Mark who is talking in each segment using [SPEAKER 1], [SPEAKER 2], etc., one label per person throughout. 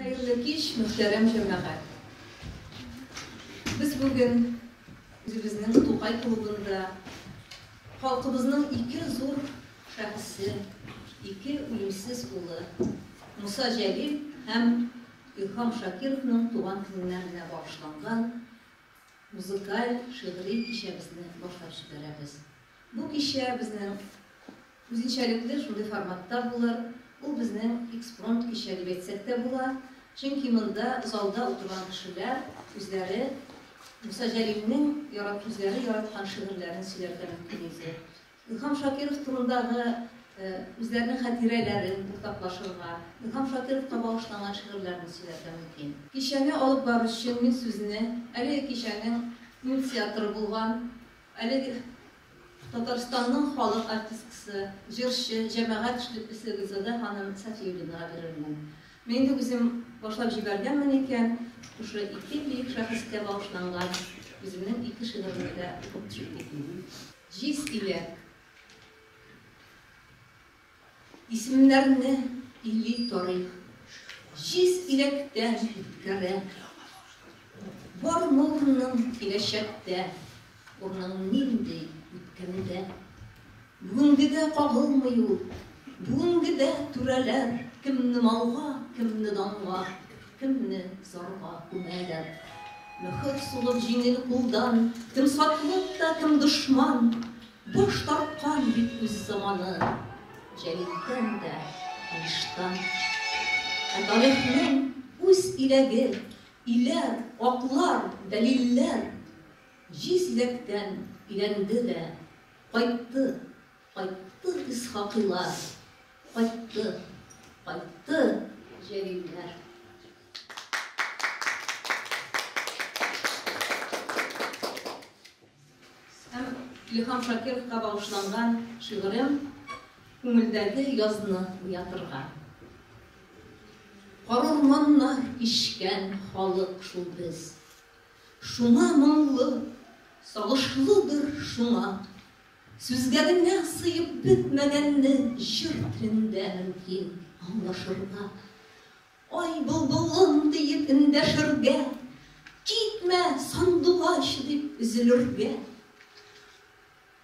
[SPEAKER 1] Хәерле кич, мөхтәрәм җәмәгать! Без бүген үзебезнең Тукай клубында халкыбызның ике зур шәхесе, ике үлемсез улы Муса Җәлил һәм Илһам Шакировның туган көннәренә багышланган музыкаль шигъри кичәбезне башлап җибәрәбез. Бу кичә безнең Үзенчәлекле шундый форматта булыр, ул безнең экспромт кичә дип әйтсәк тә була, чөнки монда залда утырган кешеләр үзләре Муса Җәлилнең ярат үзләре яраткан шигырьләрен сөйләргә мөмкин иде. Илһам Шакиров турындагы үзләренең хатирәләрен уртаклашырга, Илһам Шакировка багышланган шигырьләрне сөйләргә мөмкин. Кичәне алып баручы мин сүзне әлеге кичәнең инициаторы булган, әлеге Татарстанның халык артисткасы, җырчы, җәмәгать эшлеклесе Гөлзада ханым Сафиуллинага бирелгән. Мин инде үзем башлап җибәргәнмен икән, шушы ике бөек шәхескә багышланган үземнең ике шигыремне дә укып чик итмим. Җиз иләк. Исемнәрне или тарих Җиз иләктән үткәрә. Бар моңның киләчәктә Урының нинди үткәндә. Бүгенгедә кагылмый ул, Бүгенгедә түрәләр Кемне малга, кемне данга, Кемне зарга күмәләр. Мөһер сугып җиңел кулдан, Кем сатлык та, кем дошман, Баш тарткан бит үз заманы Җәлилдән дә, Алиштан. Ә тарихның үз иләге, Иләр, аклар, дәлилләр Җиз иләктән өйрәнде дә Кайтты, кайтты Исхакыйлар, Кайтты, кайтты Җәлилләр. Һәм Илһам Шакировка багышланган шигырем Күңелдәге язны уятырга. Карурманнар кичкән халык шул без. Шуңа моңлы, сагышлыдыр шуңа. Сүзгә генә сыеп бетмәгәнне җыр телендә мөмкин аңлашырга. Ай, былбылым, диеп эндәшергә, Китмә, сандугач, дип өзелергә.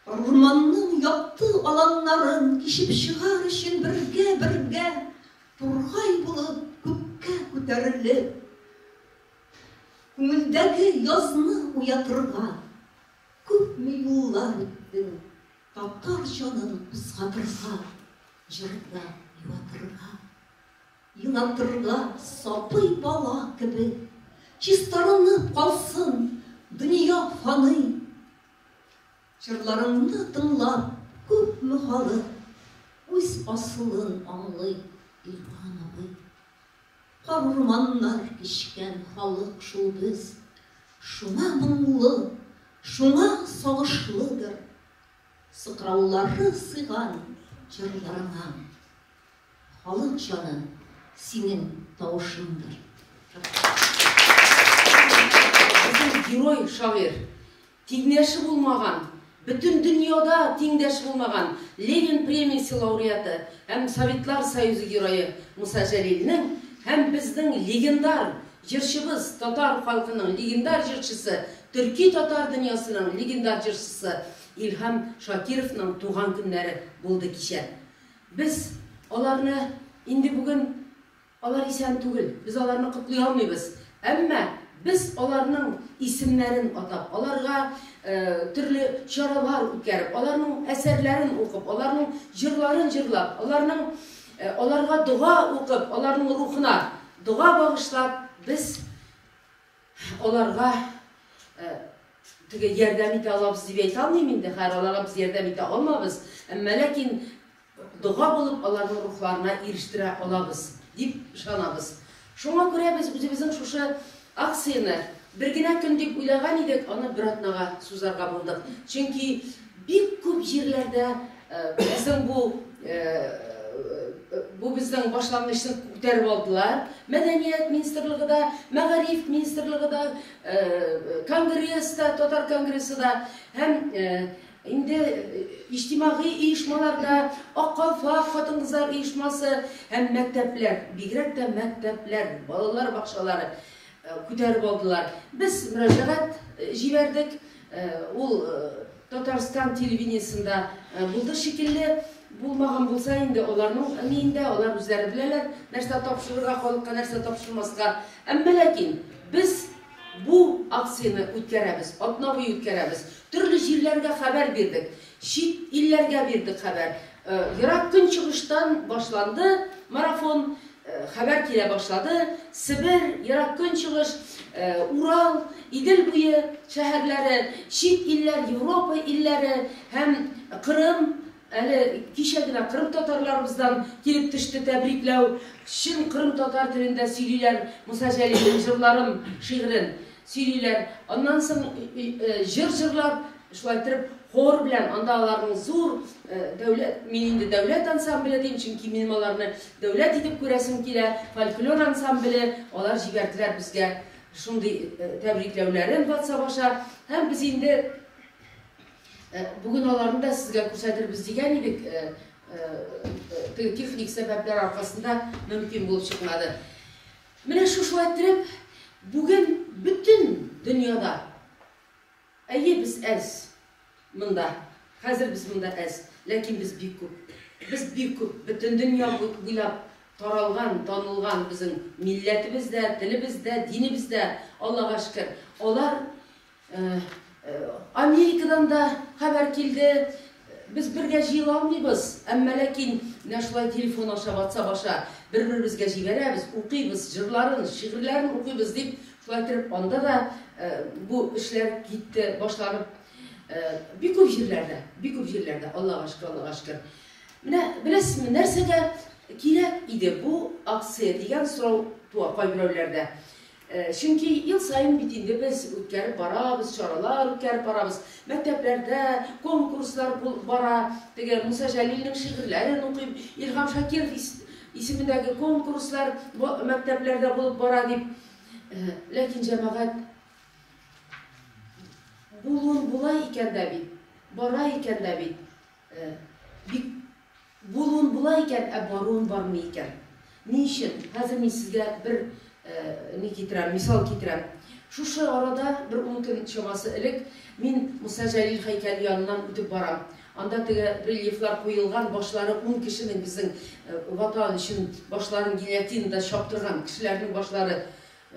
[SPEAKER 1] Урманның якты аланнарын Кичеп чыгар өчен бергә-бергә, Тургай булып күккә күтәрелеп, Күңелдәге язны уятырга. Күпме юллар үттең, татар җанын кузгатырга, Җырда юатырга. Елап торырга сабый бала кебек. Чистарынып калсын дөнья фаный. Җырларыңны тыңлап, күпме халык үз асылын аңлый, Илхан абый. Кар-урманнар кичкән халык шул без. Шуңа моңлы, шуңа сагышлыдыр. Сыкраулары сыйган җырларыңа. Халык җаны синең тавышыңдыр.
[SPEAKER 2] Безнең герой шагыйрь, тиңдәше булмаган, бөтен дөньяда тиңдәш булмаган Ленин премиясе лауреаты һәм Советлар Союзы герое Муса Җәлилнең һәм безнең легендар җырчыбыз, татар халкының легендар җырчысы, төрки-татар дөньясының легендар җырчысы Илһам Шакировның туган көннәре булды кичә. Без аларны инде бүген алар исән түгел, без аларны котлый алмыйбыз. Әмма без аларның исемнәрен атап, аларга төрле чаралар үткәреп, аларның әсәрләрен укып, аларның җырларын җырлап, аларның аларга дога укып, аларның рухына дога багышлап, без Аларга теге ярдәм итә алабыз дип әйтә алмыйм инде, хәер, аларга без ярдәм итә алмабыз, әмма ләкин дога булып аларның рухларына ирештерә алабыз дип ышанабыз. Шуңа күрә без үзебезнең шушы акцияне бер генә көн дип уйлаган идек, аны бер атнага сузарга булдык. Чөнки Бик күп җирләрдә безнең бу бу безнең башлангычны күтәреп алдылар. Мәдәният министрлыгы да, мәгариф министрлыгы да, конгресс та, татар конгрессы да һәм инде иҗтимагый оешмаларда Ак калфак хатын-кызлар оешмасы һәм мәктәпләр, бигрәк тә мәктәпләр, балалар бакчалары Күтәреп алдылар. Без мөрәҗәгать җибәрдек. Ул Татарстан телевидениесендә булды шикелле. Булмаган булса инде, аларның миендә, алар үзләре беләләр, нәрсә тапшырырга, халыкка нәрсә тапшырмаска. Әмма ләкин без бу акцияне үткәрәбез, атна буе үткәрәбез. Төрле җирләргә хәбәр бирдек, чит илләргә бирдек хәбәр. Ерак Көнчыгыштан башланды марафон, хәбәр килә башлады, Себер, Ерак Көнчыгыш, Урал, Идел буе шәһәрләре, чит илләр, Европа илләре һәм Кырым, әле кичә генә кырымтатарларыбыздан килеп төште тәбрикләү, чын кырымтатар телендә сөйлиләр Муса Җәлилнең җырларын, шигырен Сөйлиләр, аннан соң җыр җырлап, шулай иттереп хор белән, анда аларның зур дәүләт, мин инде дәүләт ансамбле дим, чөнки минем аларны дәүләт итеп күрәсем килә, фольклор ансамбле, алар җибәрделәр безгә шундый тәбрикләүләрен ватсап аша, һәм без инде бүген аларны да сезгә күрсәтербез дигән идек, теге техник сәбәпләр аркасында мөмкин булып чыкмады. Менә шушы әтрәп бүген бөтен дөньяда. Әйе, без әз монда, хәзер без монда әз, ләкин без бик күп. Без бик күп, бөтен дөнья буйлап таралган, танылган безнең милләтебез дә, телебез дә, динебез дә, Аллага шөкер. Алар Америкадан да хәбәр килде. Без бергә җыела алмыйбыз, әмма ләкин менә шулай телефон аша, ватсап аша бер-беребезгә җибәрәбез, укыйбыз, җырларын, шигырьләрен укыйбыз, дип, шулай итеп анда да бу эшләр китте, башланып. Бик күп җирләрдә, бик күп җирләрдә, Аллага шөкер, Аллага шөкер. Менә беләсезме, нәрсәгә кирәк иде бу акция дигән сорау туа кайберәүләрдә. Чөнки ел саен бит инде без үткәреп барабыз, чаралар үткәреп барабыз. Мәктәпләрдә конкурслар булып бара. Теге Муса Җәлилнең шигырьләрен укыйм, Илһам Шакиров исемендәге конкурслар мәктәпләрдә булып бара, дип. Ләкин җәмәгать булуын була икән дә бит, бара икән дә бит. Э, бик булуын була икән, ә баруын бармый икән. Ни өчен? Хәзер мин сезгә бер э, ни китерәм, мисал китерәм. Шушы арада бер ун көн чамасы элек мин Муса Җәлил һәйкәле яныннан үтеп барам. Анда теге рельефлар куелган, башлары ун кешенең безнең э, ватан өчен башларын гильотинада чаптырган кешеләрнең башлары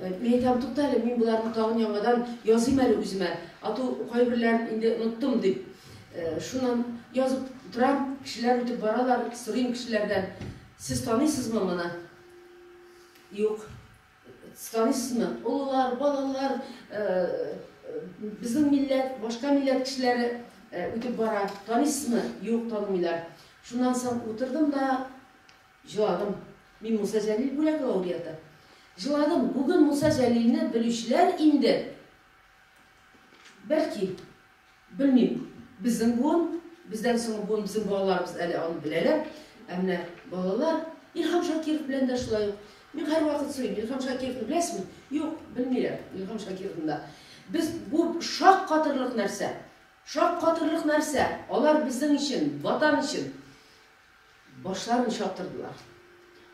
[SPEAKER 2] Мин әйтәм, тукта әле, мин боларны тагын яңадан языйм әле үземә, ату кайберләрен инде оныттым, дип. Шуннан язып торам, кешеләр үтеп баралар, сорыйм кешеләрдән, сез таныйсызмы моны? Юк. Таныйсызмы? Олылар, балалар, безнең милләт, башка милләт кешеләре үтеп бара. Таныйсызмы? Юк, танымыйлар. Шуннан соң утырдым да, Җыладым. Мин Муса Җәлил бүләк лауреаты. Җыладым. Бүген Муса Җәлилне белүчеләр инде, бәлки, белмим, безнең буын, бездән соңгы буын, безнең балаларыбыз әле аны беләләр. Ә менә балалар, Илһам Шакиров белән дә шулай ук. Мин һәрвакыт сорыйм, Илһам Шакировны беләсезме? Юк, белмиләр Илһам Шакировны да. Без, бу шаккатырлык нәрсә. Шаккатырлык нәрсә. Алар безнең өчен, Ватан өчен. Башларын чаптырдылар.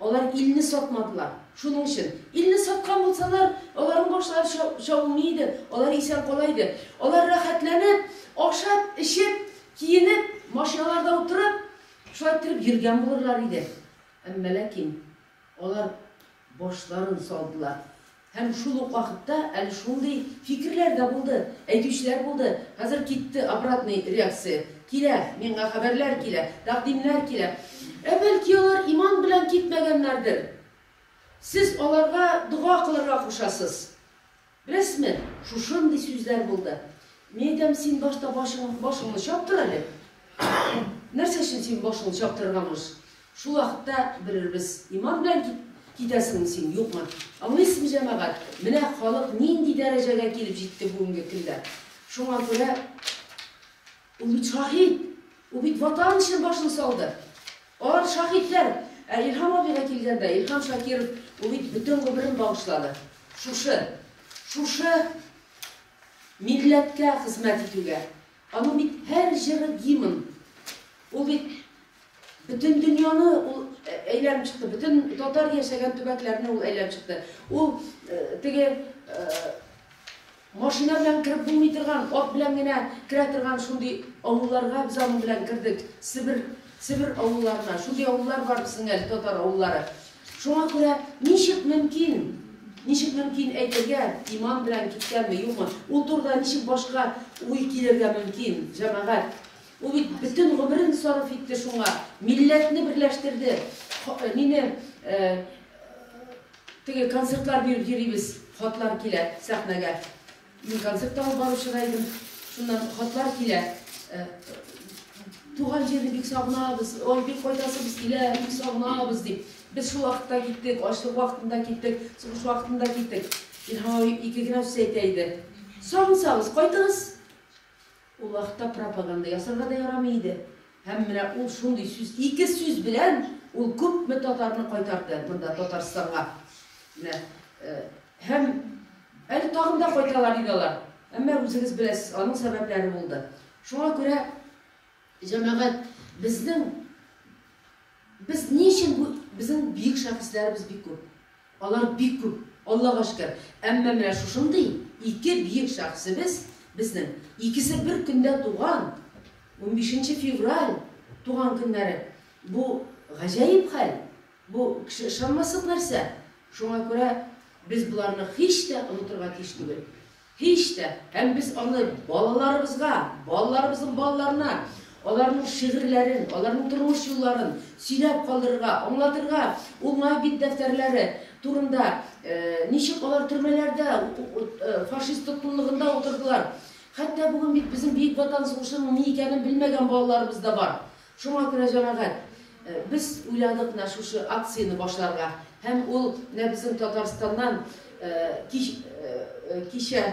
[SPEAKER 2] Алар илне сатмадылар. Шуның өчен. Илне саткан булсалар, аларның башлары ча, чабылмый иде, алар исән кала иде. Алар рәхәтләнеп, ашап, эчеп, киенеп, машиналарда утырып, шулай иттереп йөргән булырлар иде. Әмма ләкин Алар башларын салдылар. Һәм шул ук вакытта әле шундый фикерләр дә булды, әйтүчеләр булды, Хәзер китте, обратный реакция килә, миңа хәбәрләр килә, тәкъдимнәр килә. Ә бәлки алар иман белән китмәгәннәрдер? Сез аларга дога кылырга кушасыз. Рәсмә, шушындый сүзләр булды. Мин әйтәм, син башта башың, башыңны чаптыр әле. Нәрсә өчен син башыңны чаптырырга мыш? Шул вакытта белербез, иман белән кит, китәсеңме син, юкмы? Аңлыйсызмы, җәмәгать, менә халык нинди дәрәҗәгә килеп җитте бүгенге көндә. Шуңа күрә Ул бит шаһит! Ул бит Ватан өчен башын салды! Алар шаһитләр! Ә Илһам абыйга килгәндә, Илһам Шакиров, ул бит бөтен гомерен багышлады шушы, шушы милләткә хезмәт итүгә. Аның бит һәр җыры гимн. Ул бит бөтен дөньяны ул әйләнеп чыкты, бөтен татар яшәгән төбәкләрне ул әйләнеп чыкты. Ул теге Машина белән кереп булмый торган, ат белән генә керә торган шундый авылларга без аның белән кердек, Себер, Себер авылларына. Шундый авыллар бар безнең әле, татар авыллары. Шуңа күрә ничек мөмкин, ничек мөмкин әйтергә, иман белән киткәнме, юкмы? Ул турыда ничек башка уй килергә мөмкин, җәмәгать? Ул бит бөтен гомерен сарыф итте шуңа, милләтне берләштерде, ха, мине, э, Теге концертлар биреп йөрибез, хатлар килә сәхнәгә. Мин концерт та алып баручы да идем. Шуннан хатлар килә. Туган җирне бик сагынабыз, ой, бик кайтасыбыз килә, бик сагынабыз дип. Без шул вакытта киттек, ачлык вакытында киттек, сугыш вакытында киттек. Илһам абый ике генә сүз әйтә иде. Сагынсагыз, кайтыгыз. Ул вакытта пропаганда ясарга да ярамый иде. Һәм менә ул шундый сүз, ике сүз белән ул күпме татарны кайтарды монда Татарстанга. Менә һәм әле тагын да кайталар иде алар. Әмма үзегез беләсез, аның сәбәпләре булды. Шуңа күрә, җәмәгать, безнең Без ни өчен бу безнең бөек шәхесләребез бик күп. Алар бик күп, Аллага шөкер. Әмма менә шушындый ике бөек шәхесебез безнең, икесе бер көндә туган, унбишенче февраль туган көннәре. Бу гаҗәеп хәл, бу кеше ышанмаслык нәрсә. Шуңа күрә без боларны һич тә онытырга тиеш түгел. Һич тә! Һәм без аны балаларыбызга, балаларыбызның балаларына аларның шигырьләрен, аларның тормыш юлларын сөйләп калдырырга, аңлатырга, уңай бит дәфтәрләре турында, ничек алар төрмәләрдә, фашист тоткынлыгында утырдылар. Хәтта бүген бит безнең Бөек Ватан сугышының ни икәнен белмәгән балаларыбыз да бар. Шуңа күрә, җәмәгать, без уйладык менә шушы акцияне башларга. Һәм ул менә безнең Татарстаннан кич, кичә,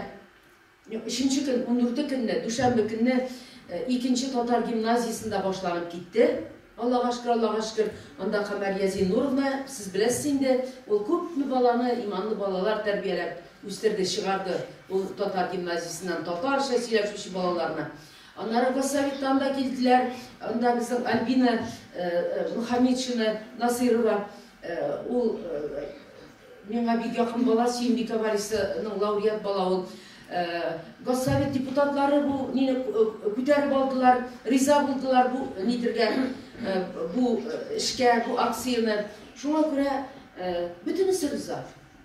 [SPEAKER 2] юк, өченче көн, ундүрте көнне, дүшәмбе көнне икенче татар гимназиясендә башланып китте. Аллага шөкер, Аллага шөкер. Анда Камәрия Зиннуровна, сез беләсез инде, ул күпме баланы, иманлы балалар тәрбияләп үстерде, чыгарды. Ул татар гимназиясеннән татарча сөйләшүче балаларны. Аннары Поссоветтан да килделәр, анда безнең Альбина Мухаметшина Насыйрова, ул миңа бик якын бала, Сөембикә Варисының лауреат бала ул. Госсовет депутатлары бу мине күтәреп алдылар, риза булдылар бу нидергә, бу эшкә, бу акцияне. Шуңа күрә бөтенесе риза.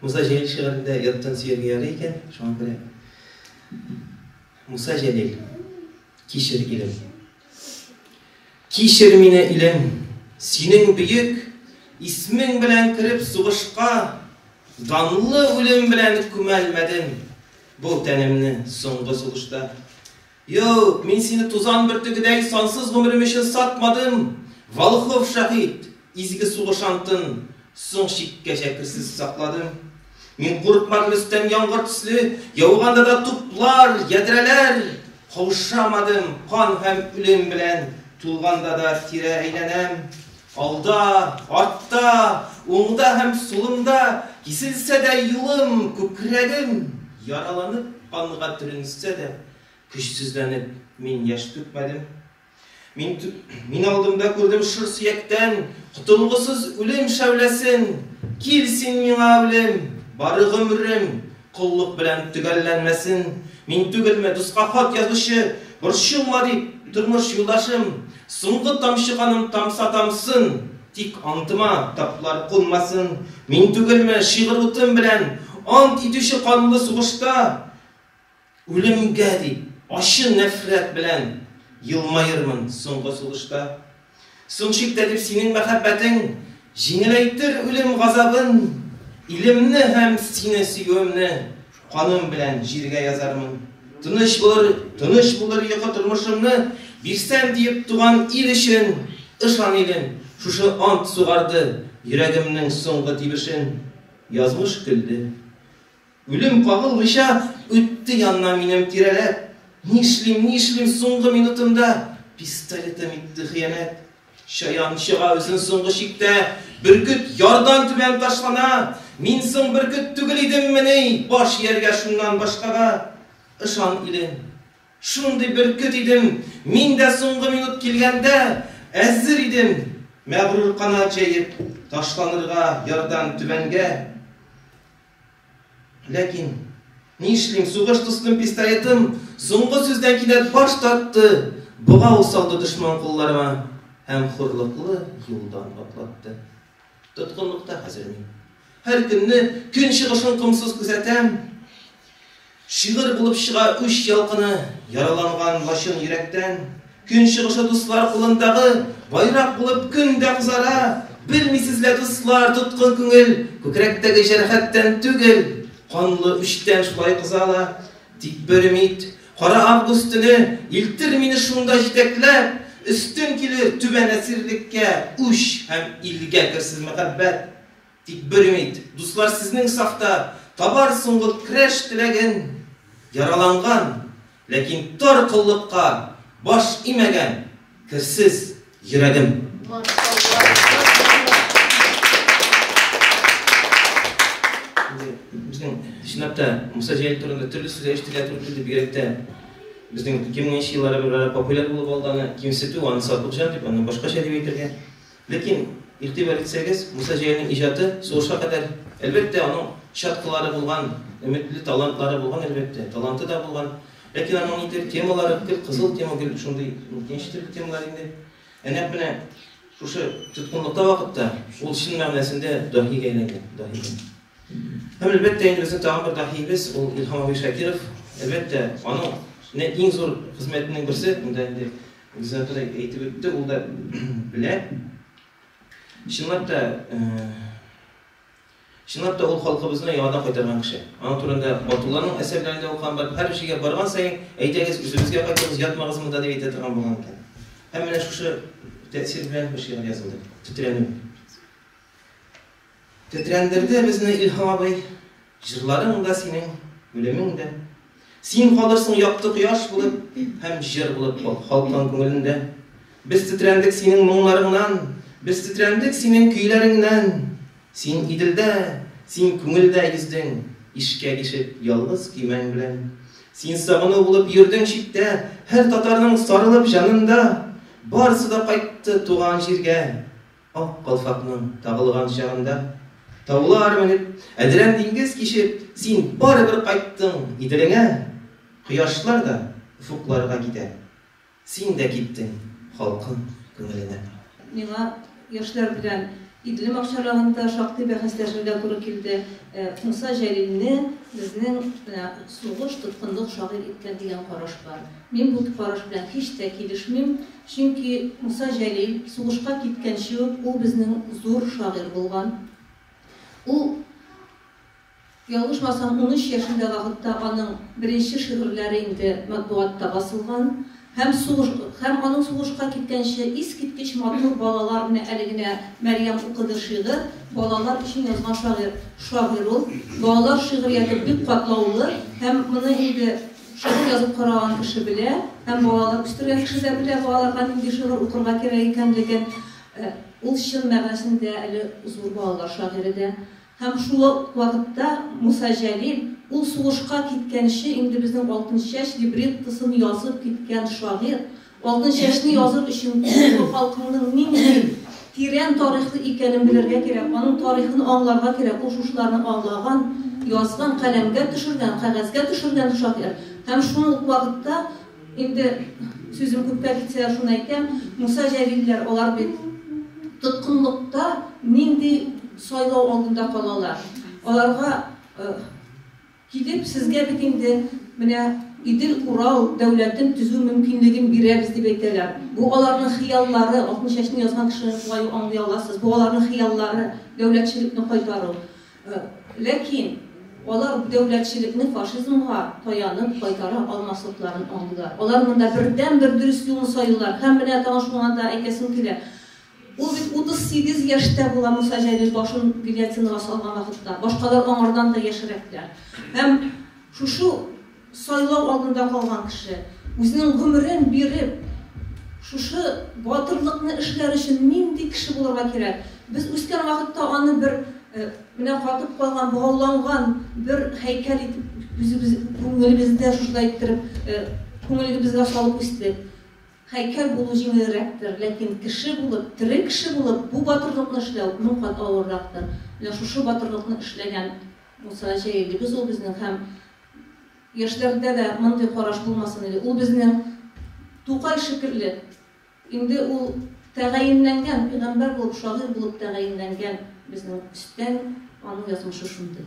[SPEAKER 3] Муса Җәлил шигырендә яттан сөйләгән яре икән, шуңа күрә Муса Җәлил, кичер, илем. Кичер мине, илем, синең бөек исмең белән кереп сугышка, данлы үлем белән күмәлмәдем бу тәнемне соңгы сулышта. Юк, мин сине тузан бөртегедәй сансыз гомерем өчен сатмадым, Волхов шаһит, изге сугыш антын соң чиккәчә керсез сакладым. Мин курыкмадым өстән яңгыр төсле яуганда да туплар, ядрәләр, Каушамадым кан һәм үлем белән тулганда да тирә әйләнәм. Алда, артта, уңда һәм сулымда Киселсә дә юлым, күкрәгем яраланып, Канга төренсә дә, көчсезләнеп, мин яшь түкмәдем. Мин, мин алдымда күрдем шыр сөяктән Котылгысыз үлем шәүләсен, Кил син миңа, үлем, бары гомрем, Коллык белән төгәлләнмәсен. Мин түгелме, дуска хат язучы? Борчылма, дип, тормыш юлдашым, Соңгы тамчы каным тамса тамсын, Тик антыма таплар кунмасын. Мин түгелме, шигырь утым белән Ант итүче канлы сугышта Үлемгә дип, ачы нәфрәт белән Елмаермын соңгы сулышта? Соң чиктә дип синең мәхәббәтең Җиңеләйтер үлем газабын. Илемне һәм сине сөюемне Каным белән җиргә язармын. Тыныч булыр, тыныч булыр йокы Тормышымны бирсәм диеп туган ил өчен. Ышан, илем, шушы ант сугарды Йөрәгемнең соңгы тибешен. Язмыш көлде. Үлем кагылмыйча үтте яннан минем тирәләп, Нишлим, нишлим, соңгы минутымда пистолетым итте хыянәт. Чаян чыга үзен соңгы чиктә, бөркет ярдан түбән ташлана, Мин соң бөркет түгел идеммени, баш ияргә шуннан башкага? Ышан, илем, шундый бөркет идем, мин дә соңгы минут килгәндә әзер идем, Мәгърур канат җәеп, ташланырга ярдан түбәнгә. Ләкин, нишлим, сугыш дустым пистолетым соңгы сүздән кинәт баш тартты, богау салды дошман кулларыма һәм хурлыклы юлдан атлатты. Тоткынлыкта хәзер мин. Һәр көнне көн чыгышын комсыз күзәтәм. Шигырь булып чыга үч ялкыны яраланган лачын йөрәктән. Көн чыгышы дуслар кулындагы байрак булып көн дә кызара. Белмисез лә, дуслар, тоткын күңел күкрәктәге җәрәхәттән түгел, канлы үчтән шулай кыза ла. Тик бер өмид, кара август төне илтер мине шунда җитәкләп, өстен килер түбән әсирлеккә үч һәм илгә керсез мәхәббәт. Тик бер өмид, дуслар, сезнең сафта табар соңгы крәш теләген яраланган, ләкин тар коллыкка баш имәгән керсез йөрәгем. Чынлап та, Муса Җәлил турында төрле сүзләр ишетергә туры килде, бигрәк тә безнең 2000 нче елларда популяр булып алды аны кимсетү, аны Сатылҗан дип, аны башкача дип әйтергә. Ләкин, игътибар итсәгез, Муса Җәлилнең иҗаты сугышка кадәр, әлбәттә, аның чаткылары булган, өметле талантлары булган, әлбәттә, таланты да булган. Ләкин аның нидер темалары гел кызыл тема, гел шундый ничек тә темалар инде. Ә нәкъ менә шушы тоткынлыкта вакытта ул чын мәгънәсендә даһигә әйләнгән, даһигә. Һәм, әлбәттә, инде безнең тагын бер даһиебез ул Илһам абый Шакиров. Әлбәттә, аның менә иң зур хезмәтенең берсе, монда инде Гөлзат да әйтеп үтте, ул да белә. Чынлап та, чынлап та ул халкыбызны яңадан кайтарган кеше. Аның турында Батулланың әсәрләрендә укыган бар. Һәр җиргә барган саен, әйдәгез, үзебезгә кайтыгыз, ятмагыз монда дип әйтә торган булган икән. Һәм менә шушы тәэсир белән бу шигырь язылды. Тетрәнү. Тетрәндерде безне Илһам абый, Җырларың да синең, үлемең дә. Син калырсың якты кояш булып Һәм җыр булып халкың күңелендә. Без тетрәндек синең моңнарыңнан, Без тетрәндек синең көйләреңнән. Син Иделдә, син күңелдә йөздең, Ишкәк ишеп ялгыз көймәң белән. Син сагыну булып йөрдең читтә, Һәр татарның сарылып җанында. Барысы да кайтты туган җиргә, Ак калфакның тагылган чагында, Таулар менеп, әдрән диңгез кичеп, Син барыбер кайттың Иделеңә. Кояшлар да офыкларга китә, Син дә киттең халкым күңеленә. Миңа
[SPEAKER 1] яшьләр белән Идлем акчарлыгында шактый бәхәсләшергә туры килде. Муса Җәлилне безнең менә сугыш тоткынлык шагыйрь иткән дигән караш бар. Мин бу караш белән һич тә килешмим. Чөнки Муса Җәлил сугышка киткәнче үк ул безнең зур шагыйрь булган. Ул, ялгышмасам, унөч яшендә вакытта аның беренче шигырьләре инде матбугатта басылган һәм сугыш һәм аның сугышка киткәнче искиткеч матур Балалар, менә әле генә Мәрьям укыды шигырь, балалар өчен язган шагыйрь шагыйрь ул. Балалар шигърияте бик катлаулы һәм моны инде Шигырь язып караган кеше белә, һәм балалар үстергән кеше дә белә, балаларга нинди шигырь укырга кирәк икәнлеген. Ул чын мәгънәсендә әле зур балалар шагыйре дә. Һәм шул ук вакытта Муса Җәлил, ул сугышка киткәнче инде безнең Алтынчәч либреттосын язып киткән шагыйрь, Алтынчәчне языр өчен бу халкыңның нинди тирән тарихлы икәнен белергә кирәк, аның тарихын аңларга кирәк, ул шушыларны аңлаган, язган, каләмгә төшергән, кәгазьгә төшергән шагыйрь. Һәм шул ук вакытта, инде сүзем күпкә китсә, шуны әйтәм, Муса Җәлилләр, алар бит тоткынлыкта нинди сайлау алдында калалар, аларга Килеп, сезгә бит инде менә Идел-Урал дәүләтен төзү мөмкинлеген бирәбез дип әйтәләр. Бу аларның хыяллары, Алтын чәчне язган кешене шулай ук аңлый аласыз. Бу аларның хыяллары, дәүләтчелекне кайтару. Ләкин алар дәүләтчелекне фашизмга таянып кайтара алмаслыкларын аңлыйлар. Алар монда бердәнбер дөрес юлны сайлыйлар. Һәм менә тагын шуңа да әйтәсем килә, Ул бит 38 яшьтә була Муса Җәлил башын гильотинага салган вакытта, башкалар аңардан да яшьрәкләр. Һәм шушы сайлау алдында калган кеше, үзенең гомерен биреп, шушы батырлыкны эшләр өчен нинди кеше булырга кирәк? Без үскән вакытта аны бер менә катып калган, богауланган бер һәйкәл итеп үзебез күңелебездә шушылай иттереп күңелебезгә салып үстек. Һәйкәл булу җиңелрәктер, ләкин кеше булып, тере кеше булып бу батырлыкны эшләү мең кат авыррактыр. Менә шушы батырлыкны эшләгән Муса Җәлилебез ул безнең һәм яшьләрдә дә мондый караш булмасын иде. Ул безнең Тукай шикелле, инде ул тәгаенләнгән, пигамбәр булып, шагыйрь булып тәгаенләнгән безнең өстән, аның язмышы шундый.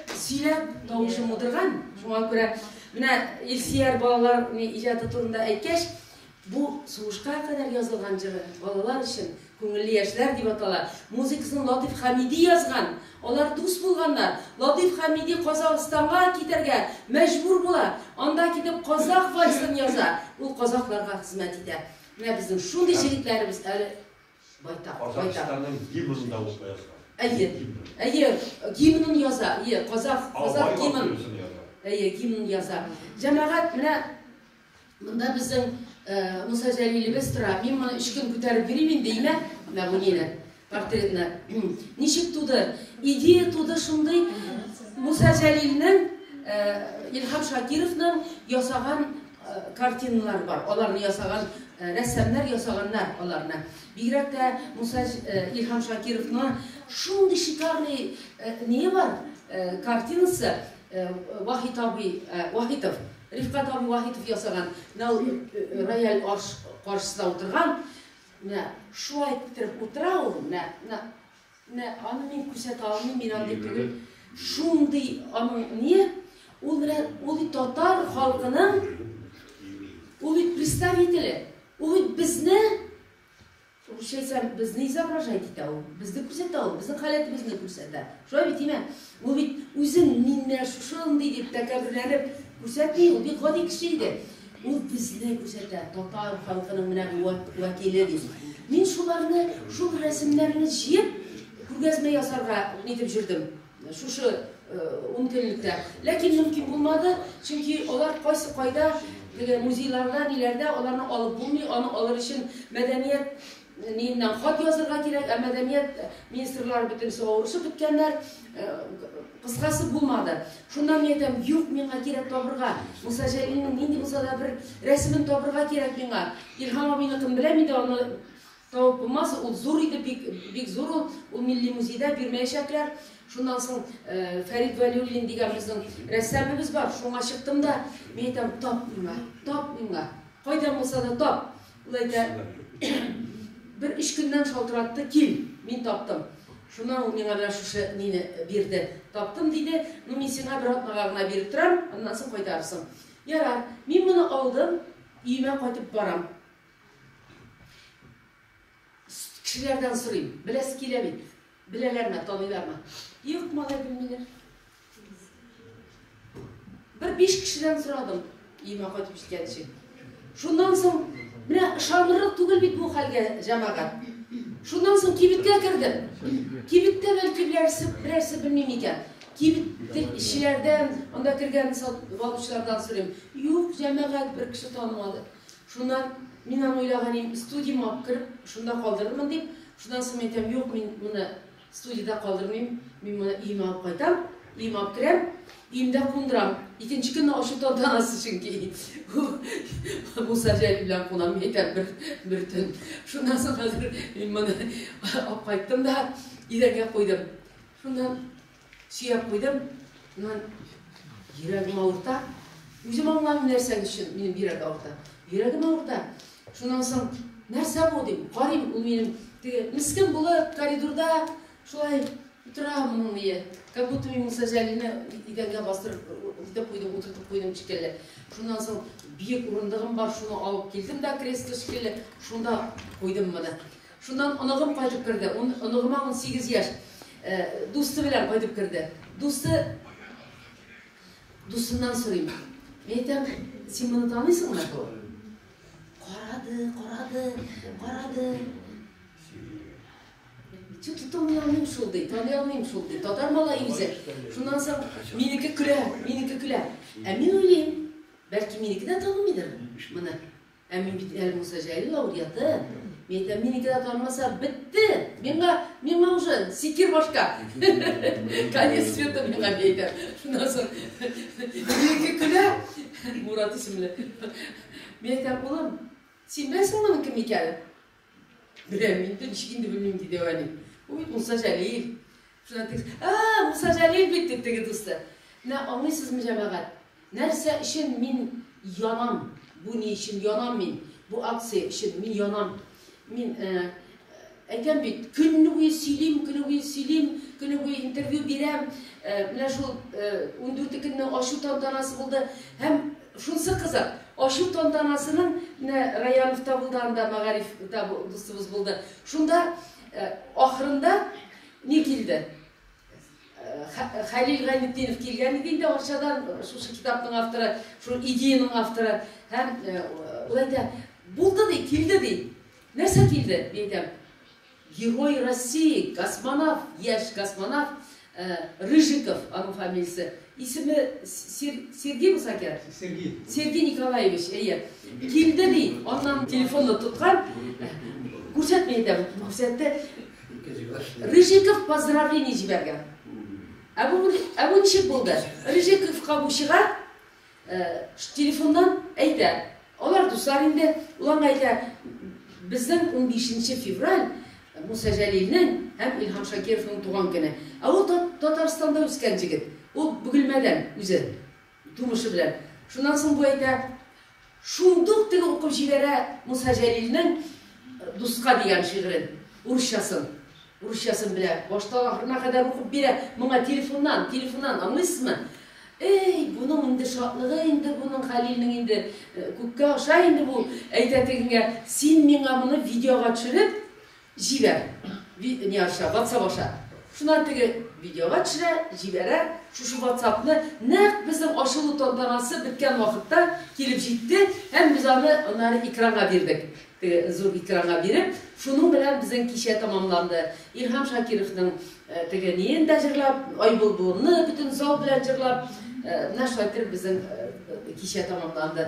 [SPEAKER 2] Сөйләп тавышым утырган, шуңа күрә менә Илсияр балалар иҗаты турында әйткәч, бу сугышка кадәр язылган җыры балалар өчен күңелле яшьләр дип атала. Музыкасын Латыйф Хәмиди язган. Алар дус булганнар. Латыйф Хәмиди Казахстанга китәргә мәҗбүр була. Анда китеп казах вальсын яза. Ул казахларга хезмәт итә. Менә безнең шундый җегетләребез әле Байтак, Казахстанның
[SPEAKER 4] гимнын да узла язган. Әйе,
[SPEAKER 2] әйе, гимнын яза, әйе, казах, казах гимн. Әйе, гимн яза. Җәмәгать, менә монда безнең э, Муса Җәлилебез тора. Мин моны өч көн күтәреп йөрим инде, имә, менә бу нине, портретны. Ничек туды? Идея туды шундый, Муса Җәлилнең, э, Илһам Шакировның ясаган картиналар бар, аларны ясаган рәссамнар ясаганнар аларны. Бигрәк тә Муса Илһам Шакировның шундый шикарный не бар картинасы Вахит абый Вахитов, Рифкат абый Вахитов ясаган, менә ул рояль арш каршысында утырган, менә шулай иттереп утыра ул, менә Менә аны мин күрсәтә алмыйм, мин андый түгел. Шундый аның ни, ул менә ул татар халкының ул представителе. Ул безне Русча әйтсәм, безне изображать итә ул, безне күрсәтә ул, безнең халәтебезне күрсәтә. Шулай бит, димә. Бу бит үзен миннәр шушындый дип тәкәбберләнеп күрсәтми, ул бик гади кеше иде. Ул безне күрсәтә, татар халкының менә бу вәкиле дип. Мин шуларны, шул рәсемнәрне җыеп, күргәзмә ясарга нитеп җөрдем. Шушы э, ун көнлектә. Ләкин мөмкин булмады, чөнки алар кайсы кайда, теге музейларда, ниләрдә, аларны алып булмый, аны алыр өчен мәдәният Ниннән хат язырга кирәк, ә мәдәният министрлары бөтенесе авырышып беткәннәр. Кыскасы булмады. Шуннан мин әйтәм, юк, миңа кирәк табырга. Муса Җәлилнең нинди булса да бер рәсемен табырга кирәк миңа. Илһам абыйны кем беләм иде, аны табып булмас. Ул зур иде, бик, бик зур ул. Ул милли музейда бирмәячәкләр. Шуннан соң э, Фәрид Вәлиуллин дигән безнең рәссамыбыз бар. Шуңа чыктым да, мин әйтәм, тап миңа, тап миңа. Кайдан булса да тап. Ул әйтә, Бер өч көннән шалтыратты, Кил, мин таптым. Шуннан ул миңа менә шушы нине бирде. Таптым, диде, Ну, мин сиңа бер атнага гына биреп торам, аннан соң кайтарырсың. Ярар, мин моны алдым, өемә кайтып барам. Кешеләрдән сорыйм, беләсе килә бит. Беләләрме, таныйлармы? Юк, малай, белмиләр. Бер биш кешедән сорадым, өемә кайтып җиткәнче. Шуннан соң, менә ышанырлык түгел бит бу хәлгә җәмәгать. Шуннан соң кибеткә кердем. Кибеттә бәлки берәрсе, берәрсе белмим икән. Кибет эшчеләрдән, анда кергән сатып алучылардан сорыйм. Юк, җәмәгать бер кеше танымады. Шуннан, мин аны уйлаган идем, студиямә алып кереп, шунда калдырырмын дип. Шуннан соң мин әйтәм, юк, мин моны студиядә калдырмыйм, мин моны өемә алып кайтам, өемә алып керәм, өемдә кундырам. Икенче көнне ачу тантанасы, чөнки ул Муса Җәлил белән кунам, мин әйтәм, бер, бер төн. Шуннан соң хәзер мин моны алып кайттым да идәнгә куйдым. Шуннан Сөяп куйдым, аннан йөрәгем авырта. Үзем аңламыйм нәрсә өчен минем йөрәк авырта. Йөрәгем авырта. Шуннан соң нәрсә бу дим? Карыйм, ул минем теге мискин булып коридорда шулай утыра моның мие. Как будто мин Муса Җәлилне идәнгә бастырып итеп куйдым, утыртып куйдым шикелле. Шуннан соң биек урындыгым бар, шуны алып килдем дә кресло шикелле, шунда куйдым моны. Шуннан оныгым кайтып керде. Ун, оныгыма унсигез яшь. Дусты белән кайтып керде. Дусты, дустыннан сорыйм. Мин әйтәм, син моны таныйсыңмы? Карады, карады, карады. Тю, таный алмыйм шул, ди, таный алмыйм шул, ди. Татар малае үзе. Шуннан соң минеке көлә, минеке көлә. Ә мин уйлыйм, бәлки минеке дә танымыйдыр моны. Ә мин бит әле Муса Җәлил әулияты. Мин әйтәм, минеке дә танымаса, бетте! Миңа, миңа уже сикер башка. Конец света миңа әйтә. Шуннан соң минеке көлә, Мурат исемле. Мин әйтәм, улым, син беләсеңме моның кем икәнен? Беләм инде, ничек инде белмим, диде Вәли. Бу бит Муса Җәлил. Шуннан тегесе, а, Муса Җәлил бит, дип теге дусты. Менә аңлыйсызмы, җәмәгать, нәрсә өчен мин янам? Бу ни өчен янам мин? Бу акция өчен мин янам. Мин э, әйтәм бит, көнне буе сөйлим, көнне буе сөйлим, көнне буе интервью бирәм. Э, менә шул э, 14 көнне ачу тантанасы булды һәм Шунсы кызык, ачу тантанасының менә Раяновта булды анда, Мәгариф та дустыбыз булды. Шунда ахырында ни килде? Хәлил Гайнетдинов килгән иде инде Арчадан, шушы китапның авторы, шул идеяның авторы. Һәм ул әйтә, булды ди, килде ди. Нәрсә килде, дип әйтәм. Герой России, космонавт, яшь космонавт Рыжиков, аның фамилиясе, исеме Сер, Сергей булса кирәк? Сергей. Сергей Николаевич, әйе. Килде ди, аннан телефонны тоткан, күрсәтми дә, күрсәтте. Рыжиков поздравление җибәргән. Ә бу, ә бу ничек булды? Рыжиковка бу чыга, Телефоннан әйтә, алар дуслар инде, ул аңа әйтә, Безнең унбишенче февраль Муса Җәлилнең һәм Илһам Шакировның туган көне. Ә ул Татарстанда үскән җегет, ул Бөгелмәдән үзе, тумышы белән. Шуннан соң бу әйтә, Шундук теге укып җибәрә Муса Җәлилнең Дуска дигән шигырен, урысчасын. Урысчасын белә, баштан ахырына кадәр укып бирә, моңа телефоннан, телефоннан, аңлыйсызмы? Эй, буның инде шатлыгы инде буның Хәлилнең инде күккә аша инде бу, әйтә тегегә, син миңа моны видеога төшереп, Җибәр. Ви не аша, ватсап аша. Шуннан теге видеога төшерә, җибәрә, шушы ватсапны нәкъ безнең ачылу тантанасы беткән вакытта килеп җитте һәм без аны аннары экранга бирдек. Теге зур экранга биреп, шуның белән безнең кичә тәмамланды. Илһам Шакировның Теге ниен дә җырлап, Айбулбулны бөтен зал белән җырлап, менә шулай итеп безнең кичә тәмамланды.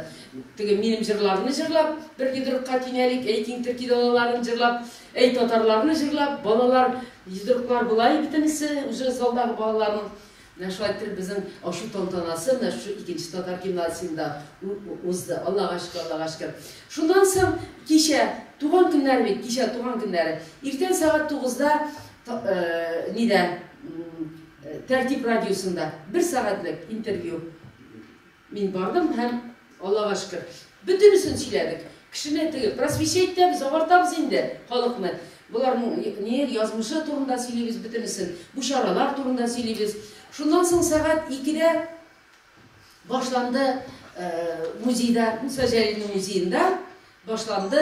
[SPEAKER 2] Теге минем җырларны җырлап, бер йодрыкка тиңәлик, әй киң төрки далаларын җырлап, әй татарларны җырлап, балалар йодрыклар болай бөтенесе, үзе залдагы балаларның Менә шулай итеп безнең ачу тантанасы менә шушы икенче татар гимназиясендә узды. Аллага шөкер, Аллага шөкер. Шуннан соң кичә, туган көннәр бит, кичә туган көннәре. Иртән сәгать тугызда нидә, Тәртип радиосында бер сәгатьлек интервью. Мин бардым һәм, Аллага шөкер, бөтенесен сөйләдек. Кешене теге, просвещать итәбез, агартабыз инде халыкны. Боларның не, язмышы турында сөйлибез бөтенесен. Бу чаралар турында сөйлибез. Шуннан соң сәгать икедә башланды музейда, Муса Җәлилнең музеенда башланды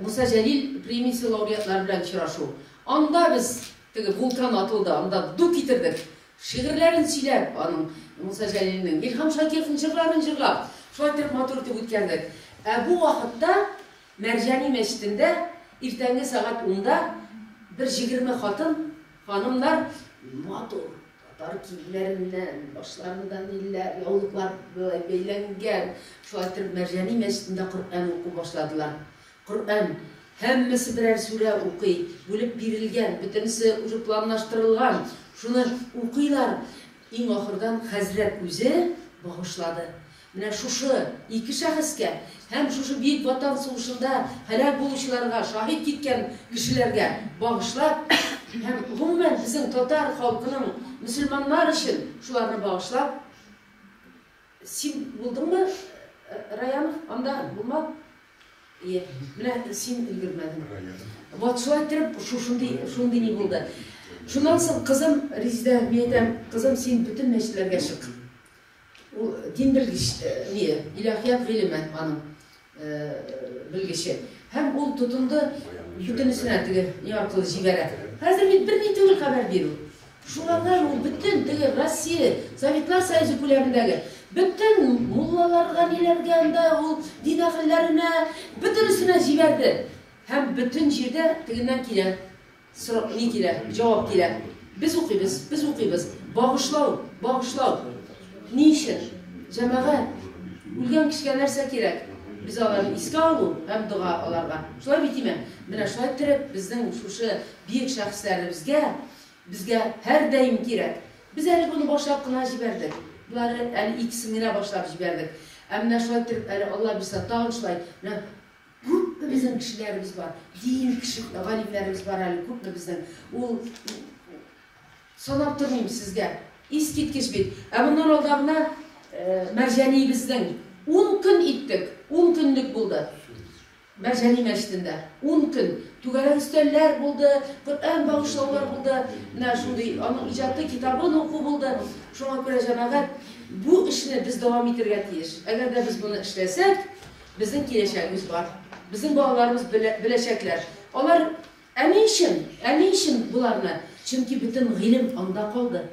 [SPEAKER 2] Муса Җәлил премиясе лауреатлары белән очрашу. Анда без, теге вулкан атылды, анда ду китердек. Шигырьләрен сөйләп, аның, Муса Җәлилнең, Илһам Шакировның җырларын җырлап, шулай итеп матур итеп үткәрдек. Ә бу вакытта Мәрҗани мәчетендә иртәнге сәгать унда бер җигерме хатын, ханымнар матур татар киемнәреннән, башларында ниләр, яулыклар бәйләнгән, шулай итеп Мәрҗани мәчетендә Коръән уку башладылар. Коръән, һәммәсе берәр сүрә укый, бүлеп бирелгән, бөтенесе уже планлаштырылган, шуны укыйлар, иң ахырдан хәзрәт үзе багышлады, менә шушы ике шәхескә һәм шушы Бөек Ватан сугышында һәлак булучыларга, шаһит киткән кешеләргә багышлап һәм, гомумән, безнең татар халкының, мөселманнар өчен шуларны багышлап, син булдыңмы, Раян, анда, булма? Ие, менә син өлгермәдең. Вот шулай иттереп, шушындый, шундый ни булды. Шуннан соң кызым Резидә, мин әйтәм, кызым, син бөтен мәчетләргә чык. Ул дин белгеч, э, ни, илаһият гыйлеме аның э, белгече. Һәм ул тотынды бөтенесенә теге ни аркылы җибәрә. Хәзер бит берни түгел хәбәр бирү. Шулардан ул бөтен теге Россия, Советлар Союзы күләмендәге бөтен муллаларга, ниләргә анда ул дин әһелләренә, бөтенесенә җибәрде. Һәм бөтен җирдә тегеннән килә, сорап ни килә, җавап килә. Без укыйбыз, без укыйбыз. Багышлау, багышлау. Ни өчен? Җәмәгать, үлгән кешегә нәрсә кирәк? Без аларны искә алу һәм дога аларга. Шулай бит, име? Менә шулай иттереп, безнең шушы биек шәхесләребезгә Безгә һәрдаим кирәк. Без әле моны башлап кына җибәрдек. Болары әле икесен генә башлап җибәрдек. Ә менә шулай итеп әле Алла бирса тагын шулай менә күпме безнең кешеләребез бар. Дин кеше галимнәребез бар әле күпме безнең. Ул санап тормыйм сезгә. Искиткеч бит. Ә моннан алдагына Мәрҗәниебезнең ун көн иттек. Ун көнлек булды. Мәрҗани мәчетендә ун көн түгәрәк өстәлләр булды, Коръән багышлаулар булды, менә шундый аның иҗаты китабын уку булды. Шуңа күрә җәмәгать бу эшне без дәвам итергә тиеш. Әгәр дә без моны эшләсәк, безнең киләчәгебез бар. Безнең балаларыбыз белә, беләчәкләр. Алар, ә ни өчен? Ә ни өчен боларны? Чөнки бөтен гыйлем анда калды.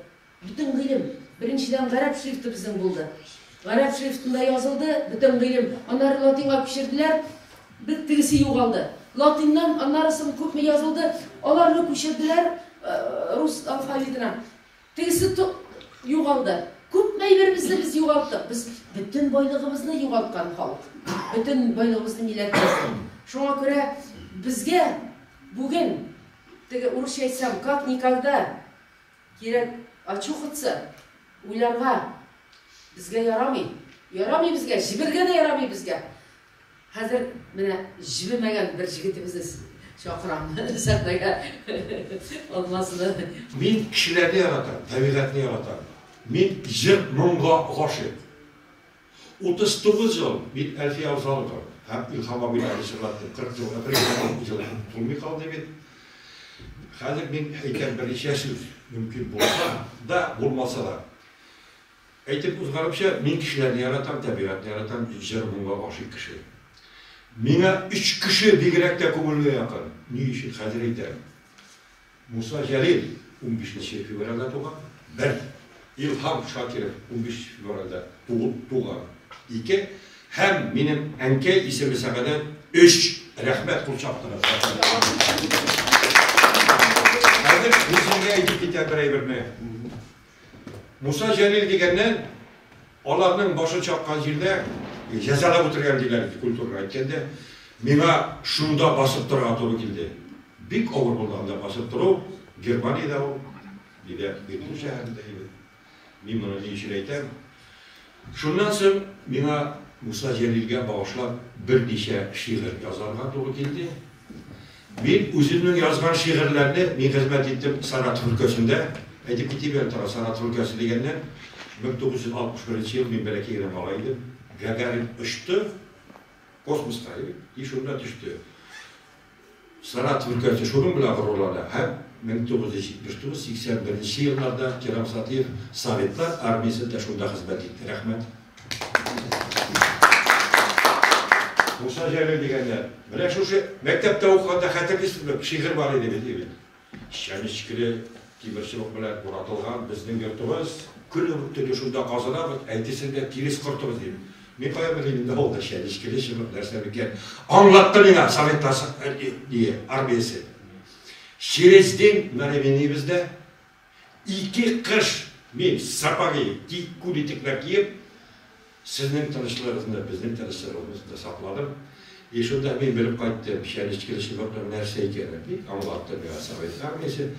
[SPEAKER 2] Бөтен гыйлем, беренчедән, гарәп шрифты безнең булды. Гарәп шрифтында язылды бөтен гыйлем. Аннары латинга күчерделәр, бит тегесе югалды. Латиннан аннары соң күпме язылды, аларны күчерделәр э, рус алфавитына. Тегесе югалды. Күпме әйберебезне без югалттык. Без бөтен байлыгыбызны югалткан халык. Бөтен байлыгыбызны милләтебезне. Шуңа күрә безгә бүген теге урысча әйтсәм, как никогда Кирәк, очухаться, уйларга. Безгә ярамый. Ярамый безгә, җебергә дә ярамый безгә. Хәзер менә җибемәгән бер җигетебезне чакырам сәхнәгә. Алмазны. Мин
[SPEAKER 4] кешеләрне яратам, табигатьне яратам. Мин җыр-моңга гашыйк. 39 ел, бит Әлфия Усалова һәм Илһам абыйлары җырлатты, 40 ел, әфәрин, ел тулмый калды бит. Хәзер мин әйтәм берничә сүз, мөмкин булса да, булмаса да. Әйтеп узганымча, мин кешеләрне яратам, табигатьне яратам, җыр моңга гашыйк кеше. Миңа өч кеше бигрәк тә күңелгә якын. Ни өчен? Хәзер әйтәм. Муса Җәлил унбиш нче февральдә туган, бер. Илһам Шакиров унбиш февральдә туып туган, ике. Һәм минем әнкәй исеме Сәгадә, өч. Рәхмәт кул чаптыгыз. Хәзер мин сезгә әйтеп китәм бер әйберне. Муса Җәлил дигәннән, аларның башын чаккан җирдә җәзалап үтергән, диләр иде, культурага әйткәндә. Миңа шунда басып торырга туры килде. Бик авыр булды анда басып тору, Германиядә ул, бигрәк Берлин шәһәрендә иде. Мин моны ни өчен әйтәм? Шуннан соң миңа Муса Җәлилгә багышлап берничә шигырь язарга туры килде. Мин үземнең язган шигырьләрне, мин хезмәт иттем Саратов өлкәсендә. Әйтеп китим әле тагын, Саратов өлкәсе дигәннән, 1961 ел мин бәләкәй генә малай идем. Гагарин очты космоска, и шунда төште. Сарат өлкәсе шуның белән горурлана һәм 1979, 81 нче елларда Керам Сатыев Советлар армиясе дә шунда хезмәт итте. Рәхмәт. Муса Җәлил дигәннәр. Менә шушы мәктәптә укыганда хәтерлисезме, шигырь бар иде бит, егет. Чәнечкеле тимер чыбык белән буратылган безнең йортыбыз. Көн үк төне шунда казынабыз, әйтесең дә тирес кортыбыз, дим. Мин каян белим инде авылда чәнечкеле чыбык нәрсә микән? Аңлатты миңа Советлар армиясе. Через день менә минибездә ике кыш мин сапоги, күн итекләр киеп, Сезнең тынычлыгыгызны безнең тынычлыгыбыз да сакладык. И шунда мин белеп кайттым, чәнечкеле чыбыкның нәрсә икәнен, ди аңлатты миңа совет армиясе.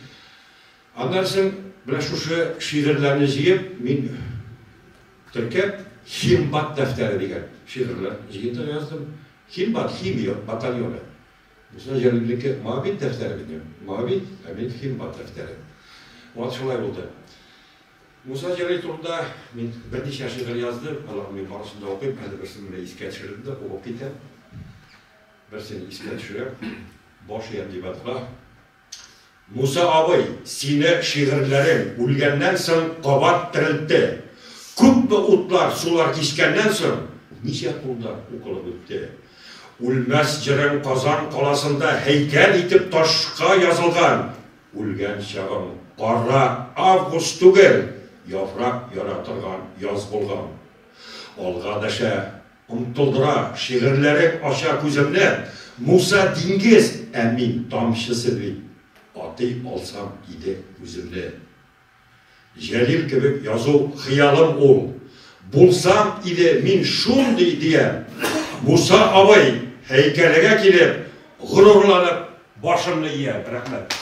[SPEAKER 4] Аннан соң менә шушы шигырьләрне җыеп, мин теркәп, Химбат дәфтәре дигән шигырьләр җыентыгы яздым. Химбат, химия батальоны. Муса Җәлилнеке Моабит дәфтәре бит, мин Моабит, ә мин Химбат дәфтәре. Вот шулай булды. Муса Җәлил турында мин берничә шигырь яздым. Аларны мин барысын да укыйм. Хәзер берсен менә искә төшердем дә, укып китәм. Берсен искә төшерәм. Баш иям дип атка. Муса абый, сине шигырьләрең үлгәннән соң кабат терелтте. Күпме утлар, сулар кичкәннән соң, ничә кулдан укылып үтте. Үлмәс җырың Казан каласында һәйкәл итеп ташка язылган, Үлгән чагың кара август түгел, яфрак яра торган яз булган. Алга дәшә, омтылдыра, шигырьләрең ача күземне, Муса диңгез, ә мин тамчысы бит, атый алсам иде үземне. Җәлил кебек язу хыялым ул. Булсам иде мин шундый, дигән Муса абый һәйкәлегә килеп, горурланып башымны иям. Рәхмәт.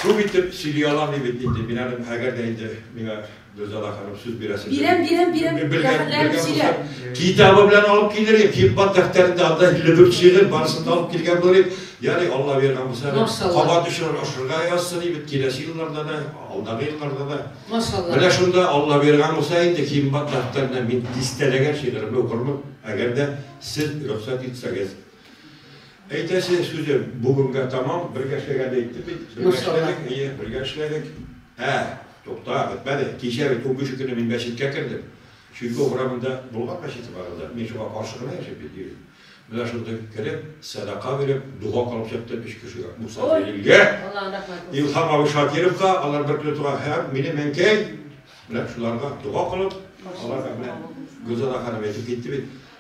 [SPEAKER 4] Күп итеп сөйли алам ди бит инде мин әле, әгәр дә инде миңа. Гөлзада ханым сүз бирәсез. Бирәм, бирәм, бирәм. Бәхетләрен сөйлә. Китабы белән алып килер идек. Хикмат дәфтәрендә анда 54 шигырь барысын да алып килгән булыр идек. Ягъни Алла биргән булса, кабат өчен ашырга язсын иде бит киләсе елларда да, алдагы елларда да. Машалла. Менә шунда
[SPEAKER 2] Алла
[SPEAKER 4] биргән булса инде хикмат дәфтәрендә мин дистәләгән шигыремне укырмын, әгәр дә сез рөхсәт итсәгез. Әйтәсе сүзе бүгенгә таман бергә эшләгәнне әйттем бит. Бергә Машалла. эшләдек, әйе, бергә эшләдек. Ә, тукта, бетмәде. Кичә бит унбиш көнне мин мәчеткә кердем. Чуйков урамында булган мәчете бар анда. Мин шуңа каршы гына яшим бит, ди. Менә шундый кереп, сәдака биреп, дога кылып чыктым өч кешегә. Муса Җәлилгә, Аллаһы рәхмәт булсын. Илһам абый Шакировка, алар бер көнне туган, һәм минем әнкәй. Менә шуларга дога кылып, аларга менә Гөлзада ханым әйтеп китте бит.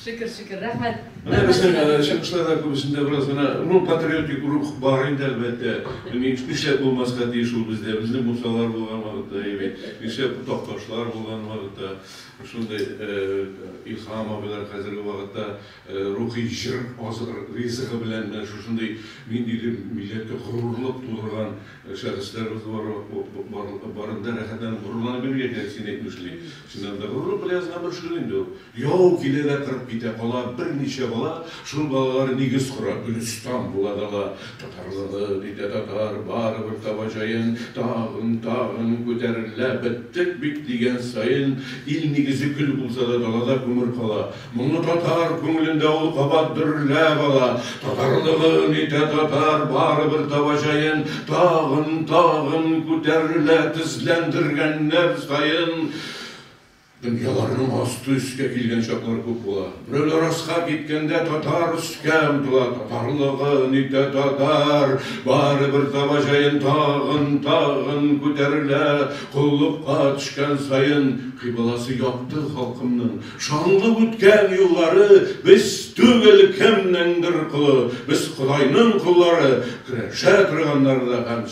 [SPEAKER 2] Шөкер, шөкер, рәхмәт. Менә безнең
[SPEAKER 5] чыгышларда күбесендә бераз гына, ну, патриотик рух бар инде, әлбәттә. Нишләп булмаска тиеш ул бездә? Безнең мусалар булган вакытта, әйе, нишләп такташлар булган вакытта, шундый Илһам абыйлар хәзерге вакытта рухи җыр ризыгы белән менә шушындый ниндидер милләткә горурлык тудырган шәхесләребез барында рәхәтләнеп горурланып йөрергә кирәк, син әйтмешли. Чыннан да горурлык бераз гына борчылу инде ул. Яу килә дә кырып китә, кала берничә бала, шул балалар нигез кора, Гөлестан була дала. Татарлыгы, ди дә татар, барыбер таба җаен, тагын, тагын күтәрелә, беттек бит дигән саен, ил нигезе көл булса да далада күмер кала. Моңлы татар күңелендә ул кабат дөрләп ала, Татарлыгы, ди дә татар, барыбер таба җаен, тагын, тагын күтәрелә, тезләндергәннәр саен, Дөньяларның асты-өскә килгән чаклары күп була. Берәү дә раска киткәндә татар өскә омтыла, татарлыгы онитә, татар барыбер таба җаен, тагын, тагын күтәрелә, коллыкка төшкән саен кыйбласы якты халкымның, шанлы үткән юллары, без түгел, кемнеңдер колы, без Ходайның коллары, көрәшә торганнары да һәм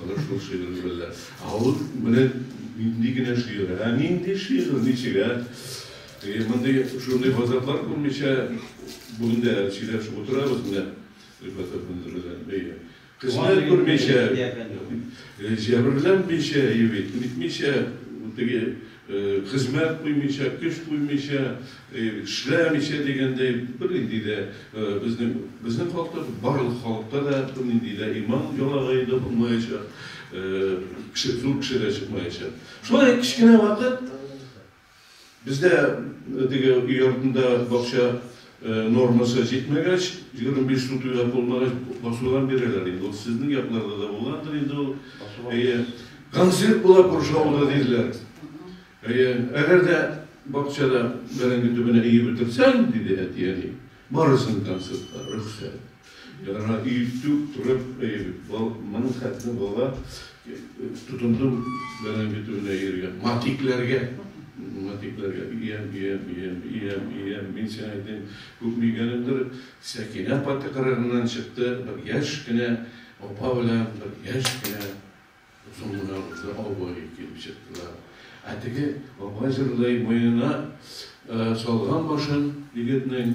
[SPEAKER 5] Менә шул шигырем белән. Ә ул менә нинди генә шигырь, ә? Нинди шигырь, ничек, ә? Теге мондый, шундый газаплар күрмичә бүген дә сөйләшеп утырабыз менә Рифат әфәнде белән. Әйе. Хезмәт күрмичә, җәберләнмичә, әйе бит, нитмичә, теге Хезмәт куймыйча, көч куймыйча, эшләмичә дигәндәй, бернинди дә безнең, безнең халыкта, барлык халыкта да бернинди дә иман ялагае да булмаячак, кеше, зур кеше дә чыкмаячак. Шулай кечкенә вакыт бездә теге өй артында бакча Нормасы җитмәгәч, егерме биш су туя булмагач, басудан бирәләр инде. Ул сезнең якларда да булгандыр инде ул. Әйе. Концерт була күрше авылда диләр. Әйе. Әгәр дә бакчада бәрәңге төбенә иеп утырсаң, диде әти-әни, барырсың концертка, рөхсәт. Яна өйтүк турып әйбит. Бал моның хәтле бала тотынды белән бит үрнә йөргән. Матикләргә. Матикләргә. Иям, иям, иям, иям, иям. Мин сиңа әйтәм, күпме игәнемдер. Сәкинә апа тыкрыгыннан чыкты. Бер яшь кенә апа белән бер яшь кенә озын гына буйлы абый килеп чыктылар. Ә теге апа җырлый, муенына салган башын егетнең.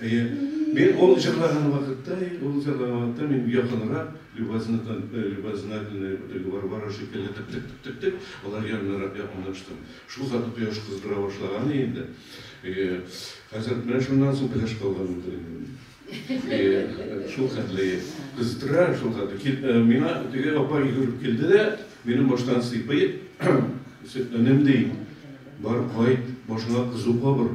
[SPEAKER 5] Әйе. Мин ул җырлаган вакытта, ул җырлаган вакытта мин якынрак Любазнатан, Любазнательный Варвара шикелле тык-тык-тык-тык-тык алар янынарак якынлаштым. Шул хәтле кояш кыздыра башлаган иде инде. Әйе. Хәзер менә шуннан соң пеләш калган булды инде мин. Әйе. Шул хәтле кыздыра, шул хәтле кил, миңа теге апа йөгереп килде дә, минем баштан сыйпый, Сөтләнем, ди, бар кайт, башыңа кызу кабыр.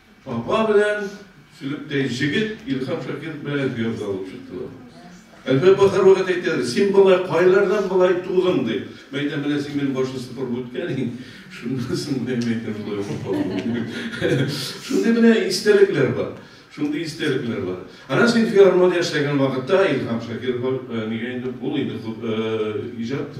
[SPEAKER 5] Апа белән Сөлектәй җегет Илһам Шакиров белән Гөязда алып чыктылар. Әлфә апа һәрвакыт әйтә, син бала кайлардан болай тудың ди. Мәйдә менә син минем башы сыпырып үткән иң. Шуннан соң мен әйтәм шулай укып калдым. Шундый менә истәлекләр бар. Шундый истәлекләр бар. Ана син филармония эшләгән вакытта Илһам Шакиров нигә инде ул инде иҗат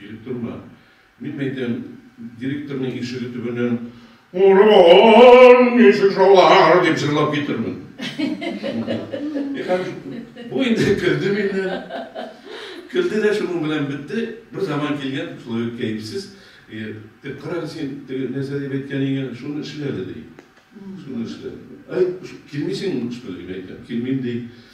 [SPEAKER 5] Директормы? Мин әйтәм, директорның ишеге төбеннән Урон, ничек шулар, дип җырлап китермен. Бу инде көлде миннән. Көлде дә шуның белән бетте. Бер заман килгән, шулай ук кәефсез, дип карагыз син, теге нәрсә дип әйткән икән, шуны эшләде, ди. Шуны эшләде. Әй, килмисең, что ли, дип әйтәм. Килмим, ди.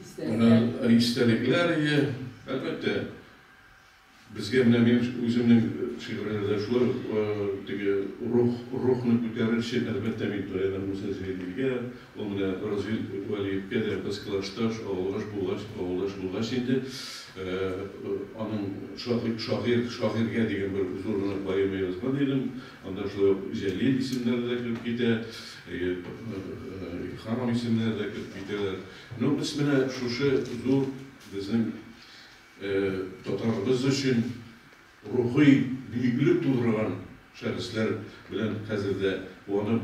[SPEAKER 5] Менә истәлекләр ие, әлбәттә, безгә менә мин үземнең шигырьләрдә шулай ук теге рух, рухны күтәрер өчен, әлбәттә, мин таянам Муса Җәлилгә, ул менә Развил Вәлиевкә дә без классташ, авылгаш булгач, авылдаш булгач инде, аның шагыйрь, шагыйрь, шагыйрьгә дигән бер зур гына поэма язган идем, анда шулай ук Җәлил исемнәре дә кереп китә, Илһам исемнәре дә кереп китәләр. Ну без менә шушы зур безнең татарыбыз өчен рухи биеклек тудырган шәхесләр белән хәзер дә куанып,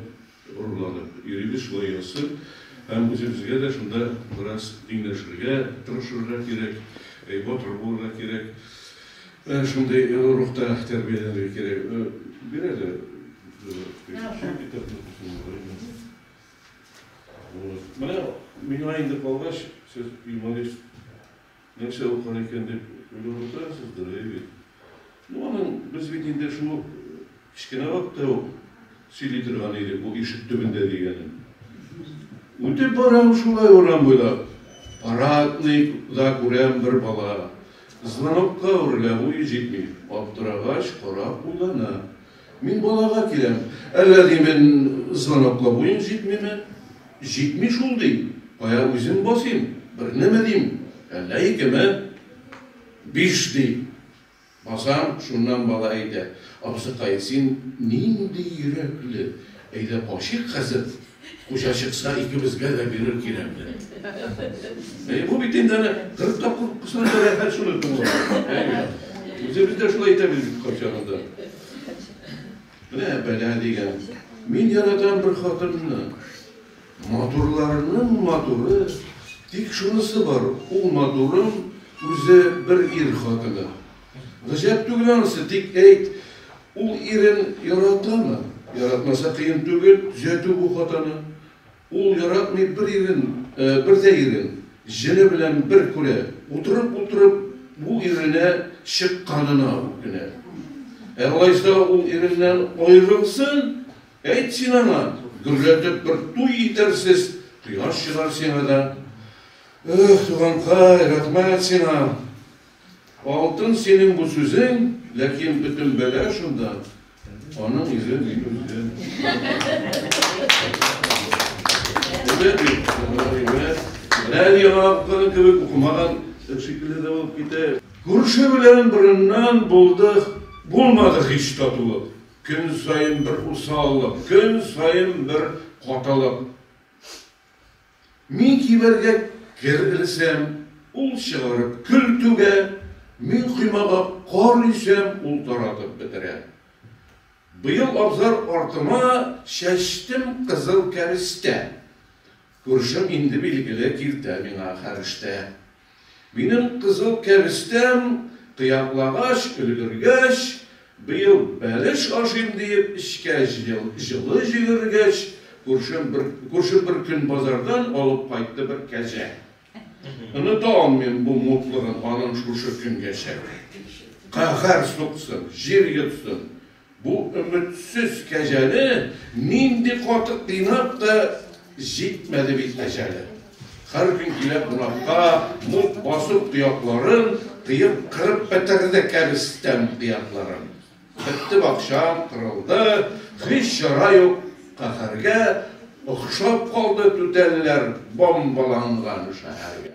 [SPEAKER 5] горурланып йөрибез, шулай ясыйм. Һәм үзебезгә дә шунда бераз тиңләшергә тырышырга кирәк, батыр булырга кирәк, шундый рухта тәрбияләнергә кирәк. Бир әле. Вот. Менә миңа инде калгач, сез юморист нәрсә укыр икән дип уйлап утырасыз, дөрөи бит. Ну, аның без бит инде шул кечкенә вакытта ук сөйли торган идек бу ишек төбендә дигәнен. Үтеп барам шулай урам буйлап, парадный да күрәм бер бала. Звонокка үрелә, буе җитми. Аптырагач, карап уйлана. Мин балага киләм. Әллә, ди, мин звоноклар буен җитмиме? Җитми шул, ди. Кая үзем басыйм? Бернеме, дим, әллә икеме? Биш, ди. Басам, шуннан бала әйтә, Абзыкай, син нинди йөрәкле! Әйдә качыйк хәзер, хуҗа чыкса, икебезгә дә бирер кирәкне. Әйе, бу бит инде әнә кырык тапкыр укысан да рәхәт шуны тыңлап. Әйе. Үзебез дә шулай әйтәбез бит кайчагында. Менә бәла дигән. Мин яратам бер хатынны. Матурларның матуры, тик шунысы бар, ул матурым үзе бер ир хатыны. Гаҗәп түгел анысы, тик әйт, ул ирен яратамы? Яратмаса кыен түгел, төзәтү бу хатаны. Ул яратмый бер ирен, бер дә ирен, җене белән бер күрә. Утырып-утырып бу иренә чыкканына үкенә. Ә алайса ул иреннән аерылсын, әйт син аңа, гөрләтеп бер туй итәрсез, кояш чыгар сиңа да. Эх, туганкай, рәхмәт сиңа. Алтын синең бу сүзең, ләкин бөтен бәла шунда, аның ире мин үзем. Әйбәт бит, әйбәт. Берәр яңа укыган кебек укымаган шикелле дә булып китә. Күрше белән борыннан булдык, булмадык һич татулык. Көн саен бер усаллык, көн саен бер катылык. Мин кибәргә кер-элсәм, ул чыгарып көл түгә, мин коймага кар өйсәм, ул таратып бетерә. Быел абзар артыма чәчтем кызыл кәрестә. Күршем инде, билгеле, киртә миңа хәрештә. Минем кызыл кәбестәм кыяклагач өлгергәч, быел бәлеш ашыйм диеп эчкә җылы җигергәч, күршем бер күршем бер көн базардан алып кайтты бер кәҗә. Оныта алмыйм бу мутлыгын аның шушы көнгәчә. Каһәр суксын, җир йотсын, Бу өметсез кәҗәне нинди каты кыйнап та, җитмәде бит әҗәле. Һәр көн килә кунакка, мут басып тоякларын, кыеп кырып бетерде кәбестән кыякларын. Бетте бакчам, кырылды, һич чара юк, каһәргә, охшап калды түтәлләр бомбаланган шәһәргә.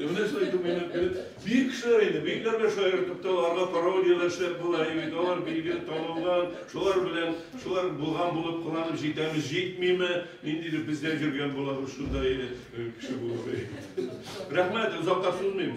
[SPEAKER 5] Менә шулай итеп уйлап биреп, бөек кешеләр инде, бөекләргә шаяртып та, аларга пародияләр эшләп була, бит, алар билгеле танылган, шулар белән, шулар булган булып кыланып җитәбез, җитмиме, ниндидер бездә йөргән булабыз шунда, кеше булып. Рәхмәт, озакка сузмыйм.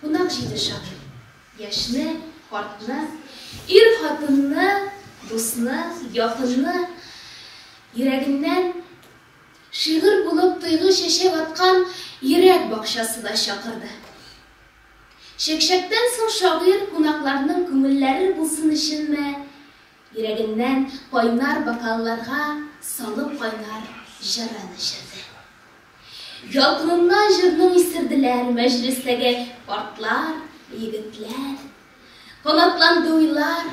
[SPEAKER 6] Кунак җиде шагыйрь. Яшьне, картны, ир-хатынны, дусны, якынны йөрәгеннән шигырь булып тойгы чәчәк аткан йөрәк бакчасы да чакырды. Чәкчәктән соң шагыйрь кунакларның күңелләре булсын өченме, Йөрәгеннән кайнар бокалларга салып кайнар җырын эчерде. Ялкыныннан җырны үстерделәр мәҗлестәге картлар, егетләр. Канатланды уйлар,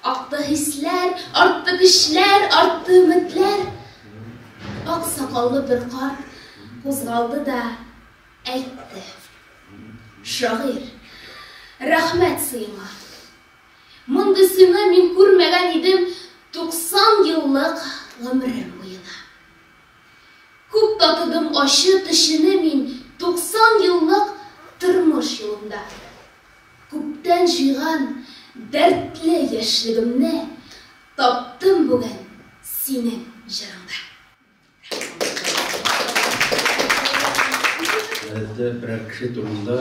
[SPEAKER 6] акты хисләр, артты көчләр, артты өметләр. Ак сакаллы бер карт кузгалды да әйтте. Шагыйрь, рәхмәт сиңа! Мондыйсыны мин күрмәгән идем 90 еллык гомерем буена. Күп татыдым ачы төчене мин 90 еллык тормыш юлымда. Күптән җыйган дәртле яшьлегемне таптым бүген синең җырыңда.
[SPEAKER 7] Гадәттә берәр кеше турында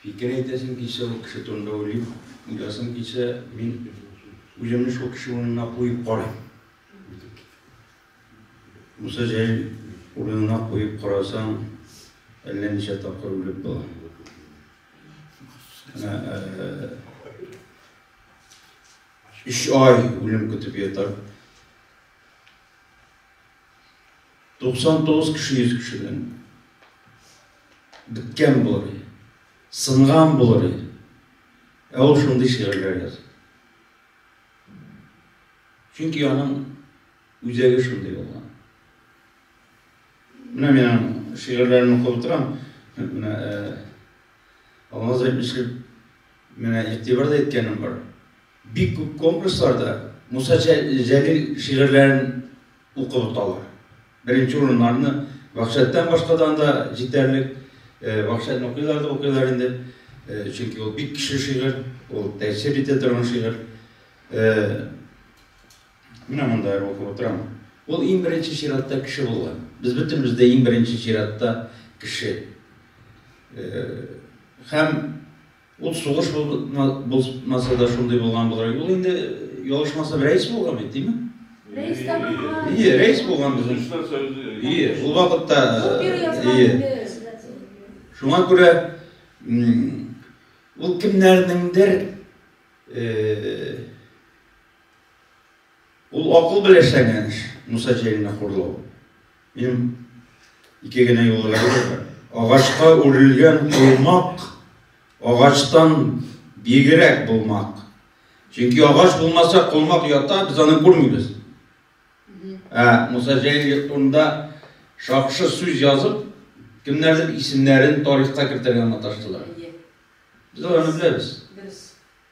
[SPEAKER 7] фикер әйтәсем килсә, ул кеше турында уйлыйм, уйласым килсә, мин үземне шул кеше урынына куеп карыйм. Муса Җәлил урынына куеп карасаң, әллә ничә тапкыр үлеп була. Өч ай үлем көтеп ятар. 99 кеше 100 кешедән беткән булыр иде, сынган булыр иде. Ә ул шундый шигырьләр яза. Чөнки аның үзәге шундый булган. Менә мин аның шигырьләрен укып утырам. Менә Алмаз әйтмешли, менә игътибар да иткәнем бар. Бик күп конкурсларда Муса Җәлил шигырьләрен укып оталар. Беренче урыннарны Вахшәттән башкадан да җитәрлек. Вахшәтне укыйлар да укыйлар инде. Чөнки ул бик көчле шигырь, ул тәэсир итә торган шигырь. Менә монда әле укып утырам. Ул иң беренче чиратта кеше булган. Без бөтенебез дә иң беренче чиратта кеше. Һәм Ул сугыш булмаса да шундый булган булыр иде. Ул инде ялгышмасам рәис булган бит, дими? Рәис
[SPEAKER 8] тә булган. Ие, рәис булган
[SPEAKER 7] безнең. Ие, ул вакытта ие. Шуңа күрә ул кемнәрнеңдер ул акыл беләшәнгән эш, Муса Җәлилне хурлау. Минем ике генә юлы бар. Агачка үрелгән колмак агачтан бигрәк булмак. Чөнки агач булмаса, колмак ята, без аны күрмибез. Ә Муса Җәлил турында шакшы сүз язып, кемнәрдер исемнәрен тарихка кертергә маташтылар. Без аны беләбез.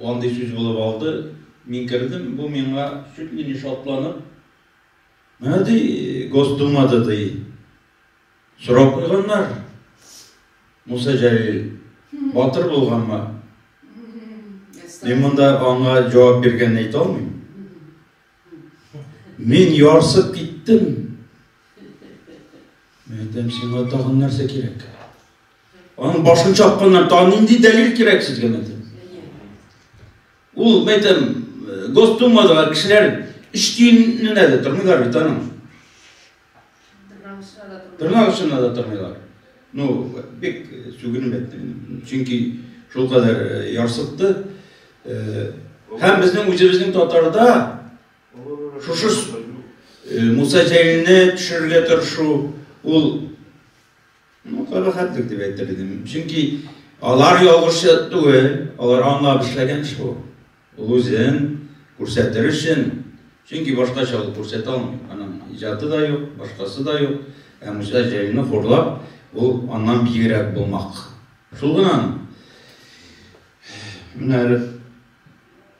[SPEAKER 7] Андый сүз булып алды. Мин кердем, бу миңа чуть ли не шатланып, Менә ди, Госдумада ди сорау куйганнар, Муса Җәлил батыр булганмы? Мин монда аңа җавап биргәнне әйтә алмыйм. Мин ярсып киттем. Мин әйтәм, сиңа тагын нәрсә кирәк? Аның башын чапканнар, тагын нинди дәлил кирәк сезгә менде? Ул, мәйтәм, э, гостумадагы кешеләр өч тиенне дә тормыйлар бит аның. Тырнак очына да тормыйлар. Ну, бик э, сүгенеп әйттем. Чөнки шул кадәр э, ярсытты. Һәм безнең үзебезнең татарда шушы Муса Җәлилне төшерергә тырышу, ул Ну, карахәтлек дип әйтер идем. Чөнки алар ялгышы түгел, алар аңлап эшләгән эш бу. Ул үзен күрсәтер өчен, чөнки башкача ул күрсәтә алмый. Аның иҗаты да юк, башкасы да юк. Ә музей җәйне хурлап, ул аннан бигрәк булмак. Шул гына. Менә әле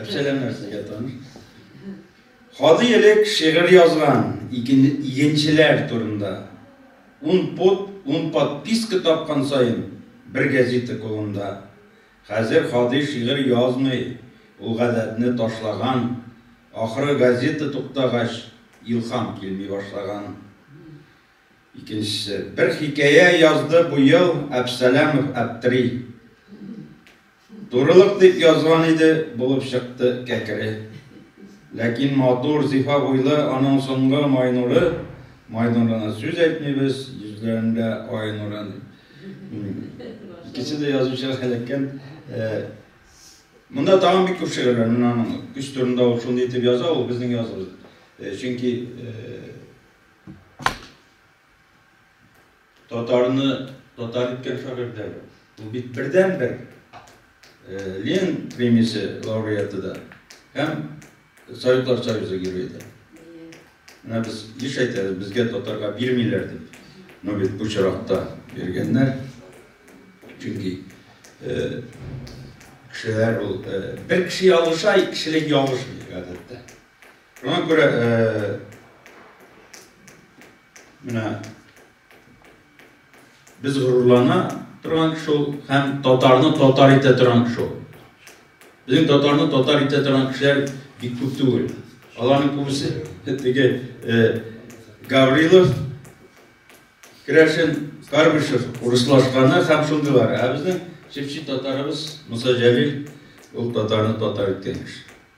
[SPEAKER 7] Әпсәләмнәр сезгә таныш. Хади элек шигырь язган игенчеләр турында. Ун пот, ун подписка тапкан саен бер газета колында. Хәзер Хади шигырь язмый, ул гадәтне ташлаган. Ахры газета туктагач, илхам килми башлаган. Икенчесе. Бер хикәя язды бу ел Әпсәләмов Әптери. Турылык дип язган иде, булып чыкты кәкре. Ләкин матур, зифа буйлы аның соңгы майнуры, майнурына сүз әйтмибез, йөзләрендә ай нурын. Икесе дә язучыга эләккән. Монда тагын бик күп шигырьләр, менә аның көч турында ул шундый итеп яза, ул безнең языбыз. Чөнки Татарны татар иткән шагыйрь дә бу. Ул бит бердәнбер Ленин премиясе лауреаты да һәм Советлар Союзы герое да. Менә без еш әйтәбез, безгә татарга бирмиләр дип. Но ну, бит бу чиракта биргәннәр. Чөнки кешеләр ул бер кеше ялгыша, кешелек ялгышмый гадәттә. Шуңа күрә Менә без горурлана торган кеше ул һәм татарны татар итә торган кеше ул. Безнең татарны татар итә торган кешеләр бик күп түгел. Аларның күбесе теге э, Гаврилов, Крәшин, Карбышев урыслашканы һәм шундыйлар. Ә безнең чепчи татарыбыз Муса Җәлил ул татарны татар иткән кеше.